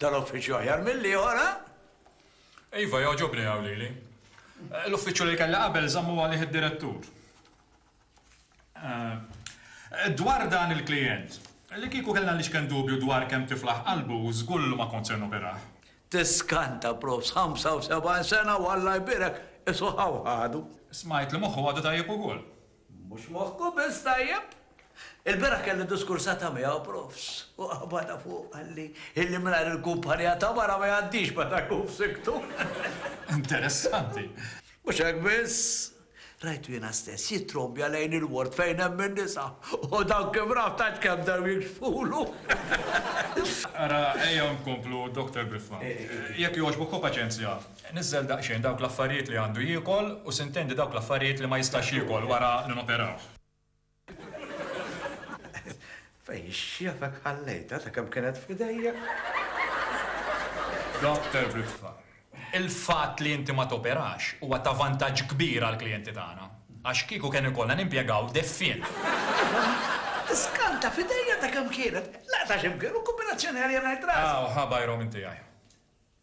Dan uffiċċju aħjar mill-ieħor, ha? Iva, jogħġobni hawn lili. L-uffiċċju li kellha qabel żammu għalih id-direttur. Dwar dan il-klijent, li kieku kellna l-ixken dubju dwar kemm tiflaħ qalbu, żgur li ma kont se noperah. Tiskanta, Prof. 75 sena u Alla jbierek, qisu ħaw ħadu. Smajt li moħħu għadu tajjeb ukoll. Mhux moħħkom biss tajjeb? Il-bieraħ kelli diskursata miegħu, profs, u qabadha fuq qalli illi mingħajr il-kumpanija ta' mara ma jgħaddix meta jkun f'sikktu. Interessanti! Mhux hekk biss, rajtu jiena stess jittrombja lejn il-ward fejn hemm in-nisa u dawn kif raw tant kemm bdew jiġfulu. Ara, ejja nkomplu, Dr. Briffa. Jekk jogħġbok ħu paċenzja. Niżżel daqsxejn dawk l-affarijiet li għandu jiekol u sintendi dawk l-affarijiet li ma jistax jiekol wara li noperawh. Fejn x'jafek ħallejtha ta' kemm kienet f'idejja? Doctor Briffa, Il-fatt li inti ma toperax huwa ta' vantaġġ kbir għall-klijenti tagħna. Għax kieku kien ikollna nimpjegaw deffien. Skanta f'idejja ta' kemm kienet. Laqta' x'imkien u kombinazzjoni għalija ngħid rasi. Aw, ħa bajrom inti, għaj.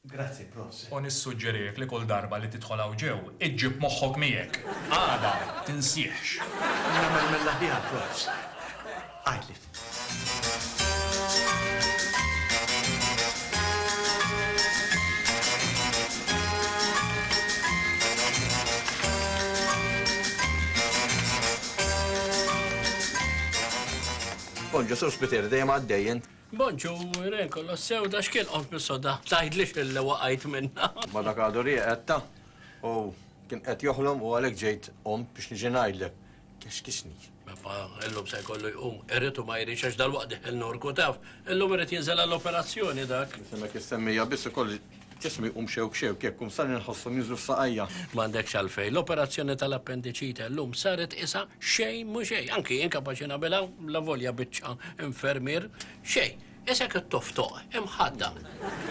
Grazzi prof. U nissuġġerilek li kull darba li tidħol hawn ġew, iġġib moħħok miegħek. Għada, tinsieħx. Nagħmel mill-aħjar prof. Għidli. Bon Ġesu Spiteri dejjem għaddejjin. Bonġu, re, kollox sew, da x'kien qod bis-soda, tgħidlix illi waqajt minnha. Ma dak għadu rieqetta u kien qed joħlom u għalhekk ġejt qomt biex niġi ngħidlek. Kexkixni. Pepa, illum se jkollu jqum, irid u ma jridx għax dalwaqt deħel Norku taf. Illum irid jinżel għall-operazzjoni dak. Isimek issemmija biss ikolli Ġismi jqum xewk xewk, jekk qum sani nħosshom jinżlu f'saqajja. M'għandekx għalfejn. L-operazzjoni tal-appendiċite llum saret qisha xejn mhu xejn. Anki jien kapaċi nagħmilha, lavolja biċċa infermier. Xejn. Isek ittoftoq, imħaddaq.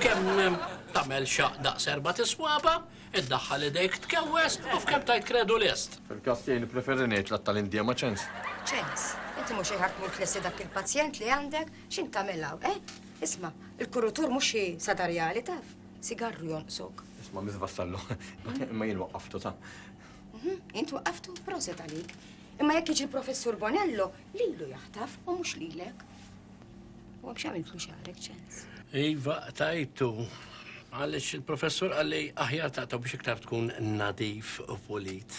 Kemm tagħmel xaqq daqs erbat is-swaba', iddaħħal idejk tkewweż u f'kemm tgħid kredu lest. Fil-każ tiegħi nippreferi ngħid l-għadd tal-indiema ċens. Ċens? Inti mhu xejn ħadd mhu tlesti dak il-pazjent li għandek. X'int tagħmel hawn, eh? Isma', il-kurutur mhux xi sadarjali taf, sigarru jonqsok. Isma' Miss Vassallo, imma jien waqqaftu ta'. Mhm, int waqqaftu proset għalik. Imma jekk jiġi l-professur Bonello, lilu jaħtaf u mhux lilek. U għam xamiltlu xarek ċens. Iva, tajtu. Għalix il-professur għalli aħjar ta' biex iktar tkun nadif u pulit.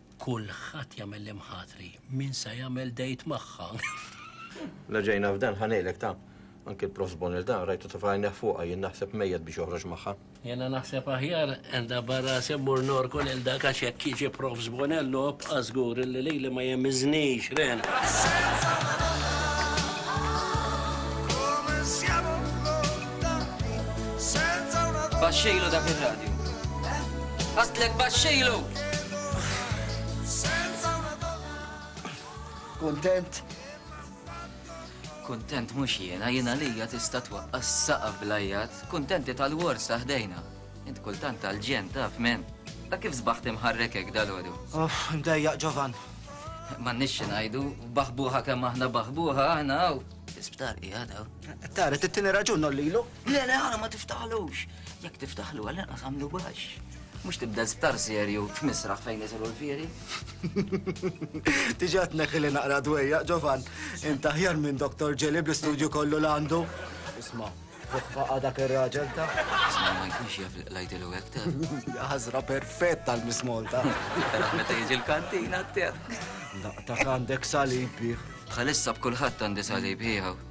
Kulħadd jagħmel l-imħatri, min se jagħmel dejt magħha. La ġejna f'dan ħa ngħidlek ta' anke l-Prof Bonil dan rajtu ta' fajneħ fuqha jien naħseb mejjed biex joħroġ magħha. Jena naħseb aħjar għandha barra semmur norku lil dak għax jekk jiġi Prof Bonil nob żgur li lili ma jemiżnix ren. Baxxejlu dak ir-radju. Għatlek baxxejlu! Kuntent? Kuntent mhux jiena, jiena lija tista' twaqqas saqaf blajjat, kuntenti tal-wors taħdejna. Int kultant tal-ġen taf men. Ta' kif sbaħt imħarrekek dal-għodu? Oh, mdejjaq ġovan. Ma nixxi ngħidu, baħbuħa kemm aħna baħbuħa aħna hawn. Isptar qiegħed hawn. Tara, tittini raġun nollilu. Le, le, għana ma tiftaħlux. Jek tiftaħlu għal inqas għamlu baxx. Mux tibda zbtar serju f'misraħ fejn jizru l-firi. Tiġat neħili naqra dwejja, ġovan, inta ħjar minn doktor ġeli bl-istudju kollu l-għandu. Isma, fuqfaqa dak il-raġel ta' Isma ma jkunx jaf lajti l għek ta' Għazra perfett tal-mismolta. Meta jiġi l-kantina t-ter. Daqtak għandek salib bieħ. Bħalissa b'kulħadd għandi salib ħieħaw.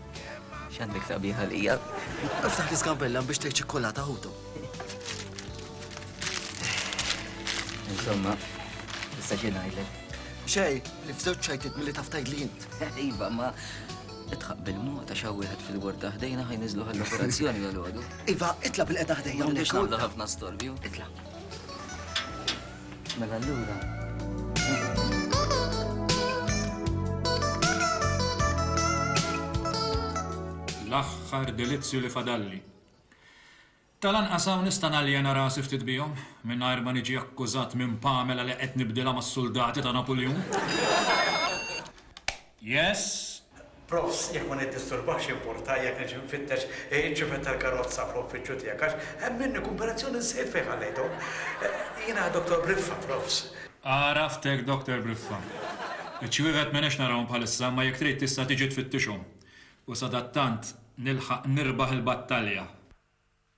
X'għandek sabiħa lija? Naftaħ li skambella biex tgħid ċikkolata ħutu. Insomma, issa xi ngħidlek. Xej, li f'żewġ ċajtit milli taf tgħid li int. Iva, ma itħaq bil-mod ta' xaw wieħed fil-warda ħdejna ħaj niżlu għall-operazzjoni għal-għodu. Iva, itla bil-qeda ħdejja. Mhux nagħmlu ħafna storbju. Itla. Mela allura. L-aħħar delizzju li fadalli. Tal-anqas hawn nista' naljena rasi ftit bihom mingħajr ma niġi akkużat minn Pamela li qed nibdilha mas-suldati ta' Napuljun. Yes. Profs, jekk ma niddisturbakx jimpurta jekk niġi nfittex iċ-ċifet tal-karozza fl-uffiċċju tiegħek għax hemm minni kumparazzjoni żżid fejn ħallejthom. Jiena Doctor Briffa, Profs. Għaraftek Doctor Briffa. Iċ-ċiwivet m'għenix narahom bħalissa imma jekk trid tista' tiġi tfittixhom u sadattant nilħaq nirbaħ il-battalja.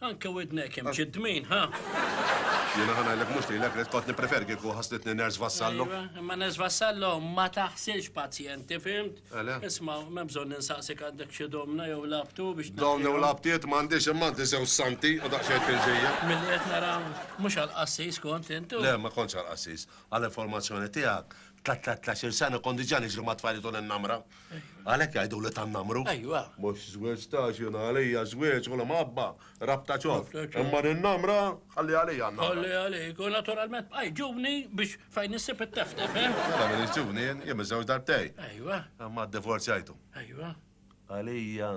Anke widnek hemm xi dmin, ha? Jiena ħa ngħidlek mhux lilek rrid kont nippreferi kieku ħaslitni Nurse Vassallo. Iva, imma Nurse Vassallo ma taħsilx pazjenti, fimt? Għala? Isma' m'hemm bżonn ninsaqsik għandek xi domna jew labtu biex Dawn jew labtiet m'għandix imma għandi żewġ santi u daqsxejn tilġija. Milli qed nara mhux għall-qassis kont intu. Le, ma kontx għall-qassis. Għall-informazzjoni tiegħek, ta' tlatt-il sena kont diġà niġri mat-tfajliet u l-innamra. Għalhekk jgħidu li tan-namru. Ejwa. Mhux żwieġ staġjonali, hija żwieġ u l-imħabba, rabta ċof. Imma n-namra ħalli għalija n-namra. Ħalli għalik, u naturalment bqajt ġuvni biex fejn issib it-teftef, eh? Mela minix ġuvni jien, jien miżżewġ darbtej. Ejwa. Imma ddivorzjajtu. Ejwa. Għalija,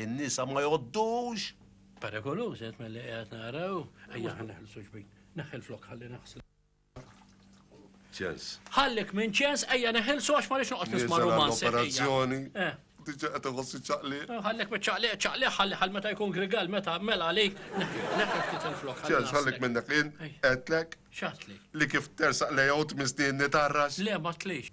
in-nisa ma jgħoddux! Perikoluż qed milli qiegħed nara u ejja ħa neħilsu xbin. Neħħi l-flokk ħalli naħslu. ċens. Ħallek minn ċens ejja neħilsu għax ma rix noqgħod nisma' romanzi. Operazzjoni. Eh. Diġa qed iħossi ċaqli. Eh, ħallek minn ċaqli, ċaqli ħalli ħal meta jkun grigal meta mela għalik neħel ftit il-flok. Ċens ħallek minn dak in qedlek. X'għatlek? Li kif tersaq lejgħu tmisni nitarrax. Le ma tlix.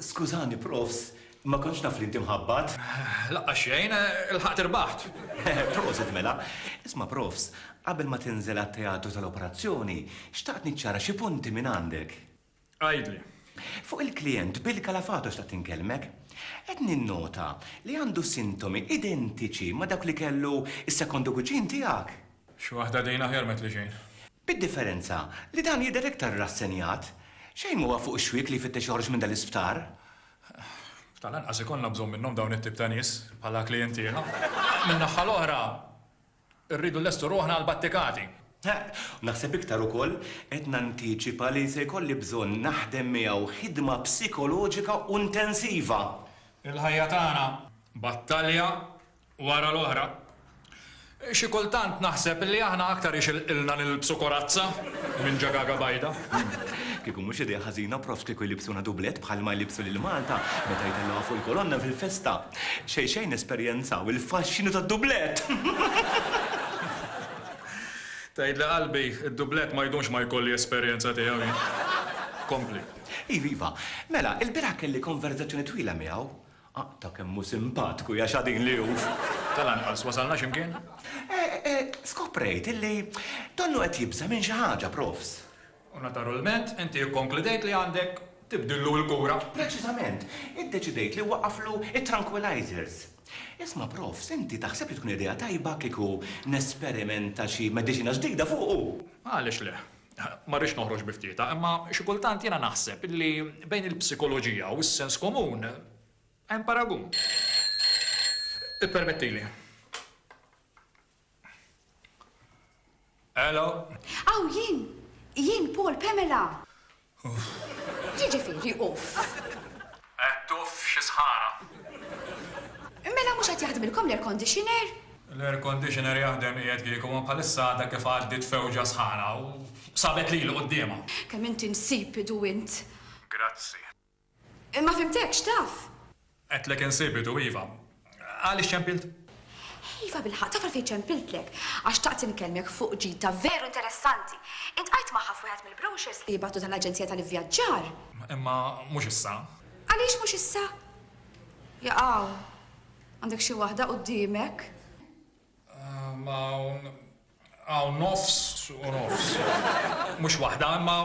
Skużani, profs, ma kontx naf li inti mħabbat. Laqqa xejn, il-ħaqt irbaħt. Prosit mela. Isma, profs, qabel ma tinżel għat-teatru tal-operazzjoni, xtaqt niċċara xi punti minn għandek. Għajdli. Fuq il-klient Bill Kalafato xtaqt inkellmek. Qed ninnota li għandu sintomi identiċi ma dawk li kellu is-sekondu kuġin tiegħek. Xi waħda dejn aħjar met li xejn. Bid-differenza li dan jidher iktar rassenjat. Xejn m'huwa fuq ix-xwiek li jfittex joħroġ minn dan l-isptar. Tal-anqas ikollna bżonn minnhom dawn it-tip ta' nies bħala klijentielna. Min-naħħa l-oħra, irridu nlestu ruħna għall-battikati. U naħseb iktar ukoll qed nantiċipa li se jkolli bżonn naħdem miegħu ħidma psikoloġika u intensiva. Il-ħajja tagħna battalja wara l-oħra. Xi kultant naħseb li aħna aktar ixilqilna nilbsu korazza minn ġagaga bajda. Kieku mhux idea ħażina prof kieku jlibsuna dublett bħalma jlibsu lil Malta meta jtellgħuha fuq il-kolonna fil-festa. Xejn xejn nesperjenzaw il-faxxinu tad-dublett! Tgħidli qalbi, id-dublett ma jdumx ma jkolli esperjenza tiegħu jien. Kompli. Iva, iva. Mela, ilbieraħ kelli konverżazzjoni twila miegħu. Aqta' kemm hu simpatku, ja xadin li hu! Tal-anqas wasalna xi mkien. Skoprejt illi donnu qed jibża' minn xi ħaġa, Profs. U natarulment inti ikkonkludejt li għandek tibdillu l-kura. Preċiżament, iddeċidejt li waqqaflu t-tranquilizers. Isma' Profs, inti taħseb li tkun idea tajba kieku nesperimenta xi mediċina ġdida fuqu? Għaliex le. Ma rridx noħroġ bi ftietha, imma xi kultant jiena naħseb illi bejn il-psikoloġija u s-sens komun hemm paragun. Ippermettili. Hello? Aw, jien! Jien, Paul, Pamela! Uff. X'jiġifieri uff? Tuff, xi sħana! Mela mhux qed jaħdmilkom l-air conditioner? L-air conditioner jaħdem qiegħed kieku, imma bħalissa għadha kif għaddiet fewġa sħana u sabet lili quddiemha. Kemm int insipidu int! Grazzi. Ma fhimtekx, taf? Għedtlek insipidu, iva. Għaliex ċempilt? Iva bilħaq, taf għalfejn ċempiltlek? Għax xtaqt inkellmek fuq ġid ta' veru interessanti. Iltqajt magħha f'wieħed mill-brochures li jibgħatu tal-aġenzija tal-ivvjaġġar. Imma mhux issa. Għaliex mhux issa? Jaqaw, għandek xi waħda quddiemek? Ma hawn nofs u nofs. Mhux waħda, imma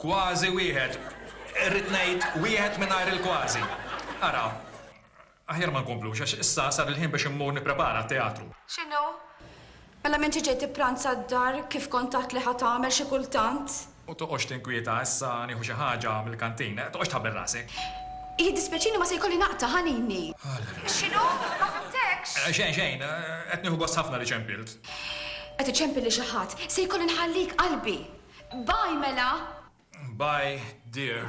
Kważi wieħed, irrid ngħid wieħed mingħajr il-kważi. Ara, aħjar ma nkomplux għax issa sar il-ħin biex immur nipprepara t-teatru. X'inhu? Mela minn xi ġej tippranza d-dar kif kont għedt li ħa tagħmel xi kultant? U toqgħodx tinkwieta issa nieħu xi ħaġa mill-kantin. Toqgħodx tħabbel rasek. Jiddispjaċini ma se jkolli naqta' ħanini. Allra. X'inhu? Ma fhimtekx. Xejn, xejn. Qed nieħu gost ħafna li ċempilt. Qed iċempil lil xi ħadd. Se jkolli nħallik qalbi. Bye mela! Bye dear.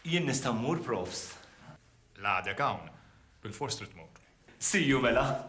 Jien nista' mmur, profs? La għadek hawn. Bilfors trid tmur. See you mela!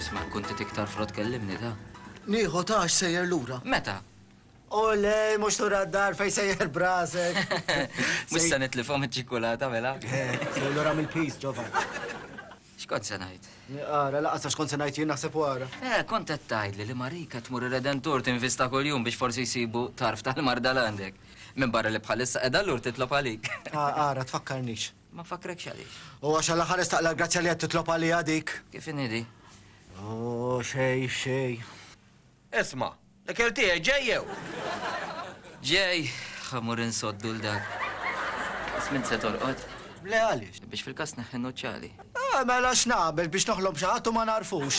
Isma' kun tit iktar frott kellimni ta. Nieħu ta' għax sejjer lura. Meta? Olej, mhux lura d-dar fejn sejjer b'rasek. Mhux se nitlifhom iċ-ċikkulata mela. Sejjer lura mill-piż, Ġovan. X'kont se ngħid? Ara, laqas għax kont se ngħid jien naħseb wara. Eh, kont qed tgħidli li Marika tmur ir-Redentur tinvista kuljum biex forsi jsibu tarf tal-marda l għandek. Minn barra li bħalissa qiegħda lur titlob għalik. Ara, tfakkarnix. Ma nfakkrek x'għaliex. U għax għal ħares taqla l-grazzja li qed titlob għaliha dik. Kif inhi di? Oh, xej, xej. Isma', L-ikel tiegħi ġej jew? Ġej, ħa mmur insoddu 'l dak. Biss m'int se torqod? Le għaliex? Biex fil-każ tneħħi n-nuċċali. Ah, mela x'nagħmel biex noħlom xi ħadd u ma nagħrfux.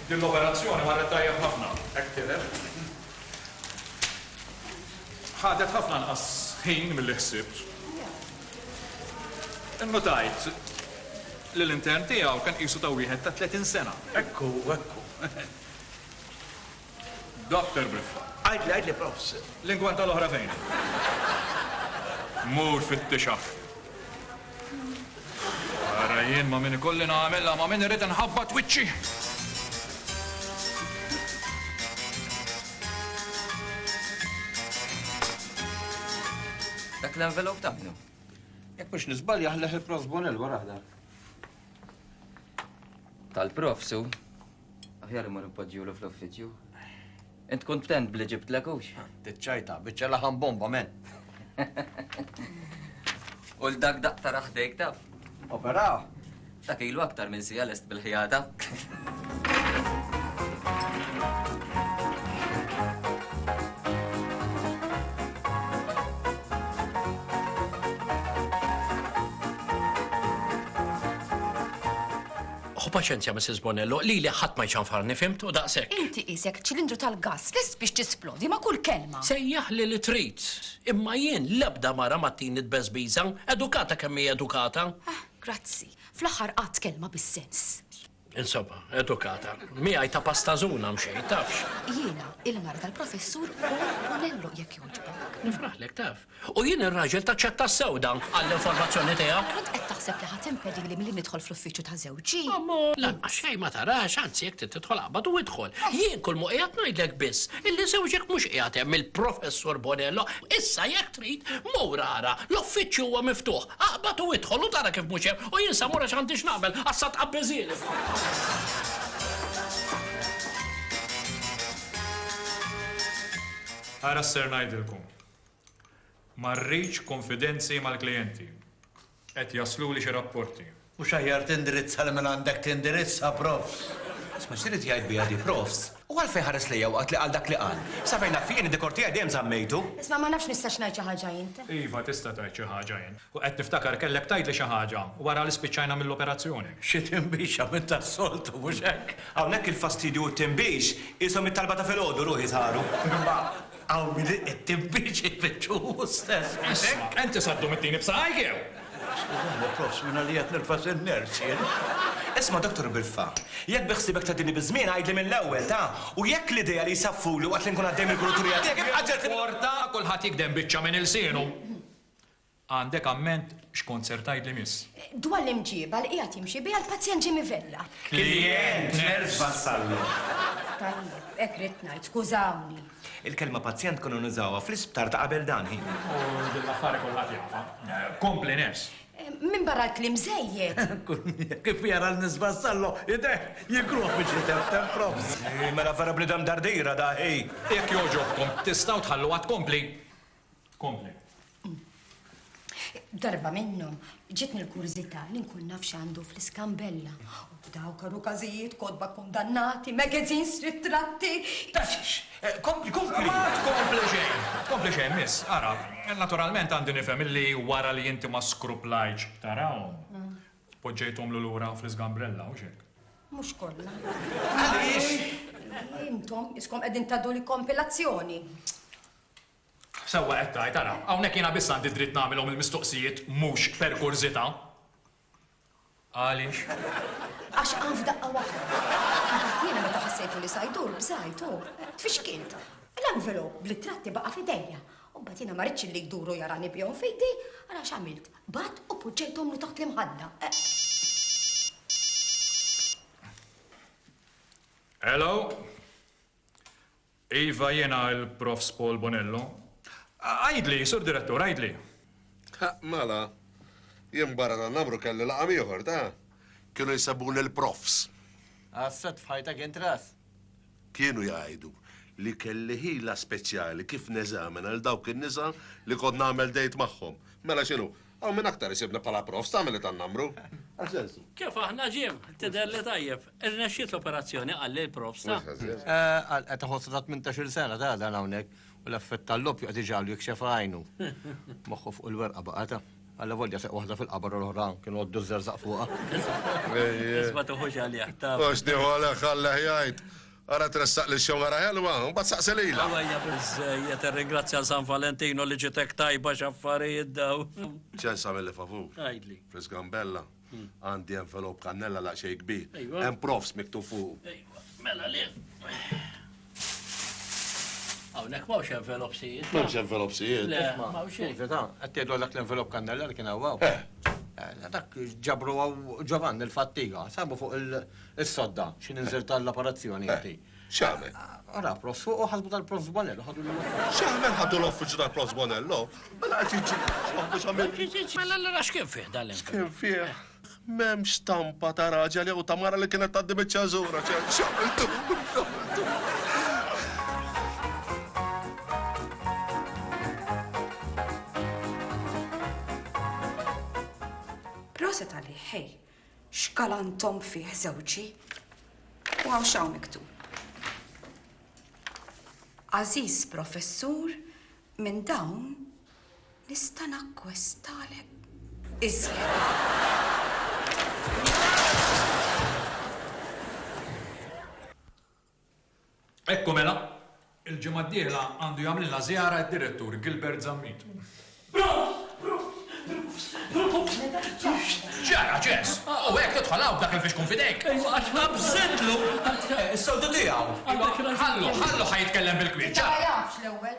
Din l-operazzjoni marret tajjeb ħafna, hekk tidher. Ħadet ħafna anqas ħin milli ħsibt. Innutajt li l-intern tiegħu kien qisu ta' wieħed ta' 30 sena. Hekk hu, hekk hu. Doctor Biffa. Għidli, għidli, Profs. L-ingwanta l-oħra fejn hi? Mur fittixha. Ara jien ma' min ikolli nagħmilha, ma' min irrid inħabbat wiċċi! Dak l-envelop ta' minnu? Jekk mhux niżball jaħleħ il-Profs Bonell wara dak. Tal-Profs hu? Aħjar imur inpoġġilu fl-uffiċċju. Int kuntent b'li ġibtlek hux? Tiċċajta, biċċa laħam bomba men. U l-dak daq tara ħdejk taf. Operaw. Dak ilu aktar minn sija lest bil-ħjata. Ħu paċenzja, Missis Bonello, lili ħadd ma jċanfarni, fhimt, u daqshekk. Inti qisek ċilindru tal-gass lest biex tisplodi ma' kull kelma. Sejjaħli li trid, imma jien l-ebda mara ma ttini tbeżbiża, edukata kemm hi edukata. Ah, grazzi. Fl-aħħar qatt kelma bis-sens. Insomma, edukata. Miegħi ta' pastazuna mxejn, tafx. Jiena il-mara tal-Professur Paul Bonello, jekk jogħġbok. Nifraħlek, taf. U jien ir-raġel taċċetta sew dan, għall-informazzjoni tiegħek. Kont qed taħseb li ħa timpedili milli nidħol fl-uffiċċju ta' żewġi? Ommu, lanqas xejn ma tarax, anzi jekk trid tidħol aqbad u idħol. Jien kull m'hu qiegħed ngħidlek biss illi żewġek mhux qiegħed hemm, il-Professur Bonello. Issa jekk trid, mur ara, l-uffiċċju huwa miftuħ. Aqbad u idħol u tara kif mhux hemm, u jien sa mur għax għandi x'nagħmel, għax sa tqabbiżieli fuq. Ara x'ser ngħidilkom. Ma rridx kunfidenzi mal-klijenti. Qed jasluli xi rapporti. Mhux aħjar tindirizza lil min għandek tindirizza, Profs. Isma' x'trid jgħid biha di, Profs? U għalfejn ħares lejja waqt li qal dak li qal? Sa fejn naf jien, id-dikor tiegħi dejjem żammejtu. Isma' ma nafx nistax ngħid xi ħaġa int. Iva tista' tgħid xi ħaġa int. U qed niftakar kellek tgħidli xi ħaġa wara li spiċċajna mill-operazzjoni. Xi tinbixa minn tas-soltu, mhux hekk? Hawnhekk il-fastidju u t-tinbix qishom it-talba ta' filgħodu, ruħi saru. Imma Hawn min iqittim biex ifittxu hu stess f'idejk. Isma', inti saddum ittini b'saqajk jew? Skużani, proffs, minn għalija qed nilfa' xi nervs jien. Isma' Dottor Bilfa, jekk bi ħsiebek tgħaddini biż-żmien għidli mill-ewwel, ta? U jekk l-idea li jsaffuli waqt li nkun għaddej mill-kuraturija tiegħek ibqa' ġegħli. Porta, kulħadd jigdem biċċa minn ilsienu. Għandek amment x'kont ser tgħid li miss? Dwar l-imġieba li qiegħed jimxi biha l-pazjent Jimmy Vella. Klijent nerġ' wassallu. Tajjeb, hekk ridt ngħid, skużawni. Il-kelma pazjent konna nużawha fl-isptar ta' qabel dan, hi. U din l-affari kulħadd jafha. Kompli ners'. Minbarra l-kliem żejjed. Kif jara lil Miss Vassallo, ideh jikruh biex jiteften, props. Hi, mela vera bniedem dardira da, hi. Jekk jogħġobkom, tistgħu tħalluha tkompli? Kompli. Darba minnhom ġitni l-kurżità li nkun naf x'għandu fl-iskambella. Daw karu każijiet, kodba kundannati, magazines, ritratti. Tafx, eh, kompli, kompli. Ma tkompli xejn. Kompli xejn, miss, ara. Eh, naturalment għandi nifhem li wara li inti ma skruplajċ tarawhom. Mm. Poġġejthom l lura fl-iskambrella, u xek. Mhux kollha. Għaliex? Intom iskom qegħdin tadu li kompilazzjoni. Sewwa qed tgħid, ara, hawnhekk jiena biss għandi d-dritt nagħmilhom il-mistoqsijiet mhux per kurżità. Għaliex? Għax qam f'daqqa waħda. Imbagħad jiena meta ħassejtu li sa jdur, bżajt u tfixkilt. L-envelop bl-ittratti baqa' f'idejja. U mbagħad jiena ma ridtx li jduru jarani bihom f'idi, ara x'għamilt, b'għadd u poġġejthomlu taħt l-imħadda. Hello? Iva, jiena il-Profs Paul Bonello. Għidli, Sur Direttur, għidli. Ha, mela, jien barra dan l-amru kelli laqam ieħor, ta? Kienu jsebuni l-Profs. Għas-sod f'ħajtek int ras. Kienu jgħidu li kelli ħila speċjali kif neżamina lil dawk in-nisa li kont nagħmel dejt magħhom. Mela x'inhu, Hawn min aktar isibni bħala prof, stagħmel li tan-numru. Kif aħna Jim, tidher li tajjeb. Irnexxiet l-operazzjoni qal li l-prof sa. Qed iħossha ta' 18-il sena ta' dan hawnhekk u l-effett tal-loppju qed iġagħlu jikxef għajnu. Moħħu fuq il-werqa baqa' ta'. Alla volja seq waħda fil-qabar u l-oħra kienu għoddu ż-żerżaq fuqha. Isma' tuħux għalih ta'. Għax nieħu għalih ħallih jgħid. Ara tressaq lil xewqa ra ħelwa, u mbagħad saqsi lilha. Aw hija biżżejjed irringrazzja San Valentinu li ġiet hekk tajba x'affarijiet dawn. Ċens għamilli favur. Għidli. Fis-gambella għandi envelop kannella daqsxejn kbir. Ejwa. Hemm profs miktub fuqu. Ejwa, mela le. Hawnhekk m'hawnx envelop sijiet. M'hemmx envelop sijiet. Le, m'hawn xejn. Verità, qed tgħidlu għal dak l-envelop kannella li kien hawn hawn? Eh. Eh, Dak ġabru hawn Ġovanni l-fattiga, sabu fuq il- Is-sodda, xi ninżel tal-apparazzjoni inti. Eh, x'għamel? Ara, prof, fuq u ħasbu tal-prof Bonello, ħadu l X'għamel ħadu l-offiċu tal-prof Bonello? Mela qed jiġi x'għamlu x'għamil. Mela l-ra x'kien fih dan l X'kien fih? M'hemmx stampa ta' raġel jew ta' mara li kienet tgħaddi biċ-ċażura, x'għamiltu? Proset għalih, hej, X'galantom fih żewġi! U hawn x'hawn miktub. Għażiż Professur, minn dawn nista' nakkwestalek iżjed. Hekk hu mela, il-ġimgħa d-dieħla għandu jagħmlilna żjara d-Direttur Gilbert Zammit. X'ġara, Ġes? U hekk tidħol hawn b'dak il-fixkun f'idejk? Ejja, għax ħabbżitlu! Is-soltu tiegħu! Ħallu, ħalluh ħa jitkellem bil-kmieni. Inta ma jafx l-ewwel.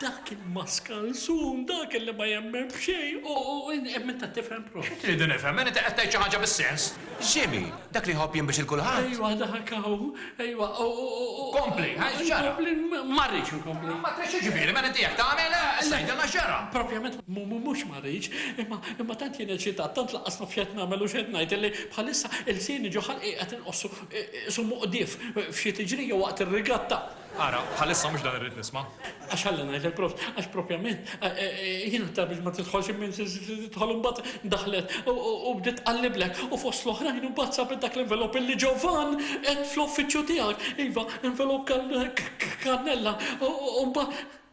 Dak il-maskalzun, dak illi ma jemmen b'xejn, u hemm min ta' tifhem proprju. Xi tridu nifhem? Inti qed tgħid xi ħaġa bis-sens? Jimmy, Dak li jħobb jinbix 'il kulħadd? Ejwa dak hawn, ejwa, u, u, u, u. Kompli, ha, x'ġara? Inkompli? Ma rridx inkompli. Ma tridx jiġifieri, mela inti hekk tagħmel? Issa għidilna x'ġara. Proprjament mhux ma rridx, imma, imma tant jien eċitat, tant lanqas naf x'qed nagħmel u x'qed ngħid illi bħalissa lsieni ġo ħalqi qed inqossu, isu muqdif f'xi tiġrija waqt ir-rigatta. Ara, bħalissa mhux dan irrid nisma'. Għax ħalli ngħidlek prof, għax propjament jien ta' biex ma tidħolx immin tidħol imbagħad daħlet u bdiet tqalliblek u fost l-oħrajn imbagħad sabet dak l-envelop illi Ġovann qed fl-uffiċċju tiegħek. Iva, envelop kannella u mbagħad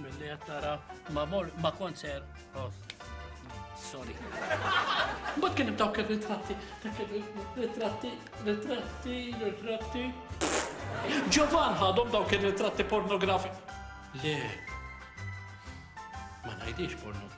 Milli qed tara ma mor ma konser. Oh, sorry. Mbagħad kien dawk ir-ritratti, dak ir-ritratti, ritratti, ritratti. Ġovan ħadhom dawk ir-ritratti pornografi. Le. Ma ngħidix pornografi.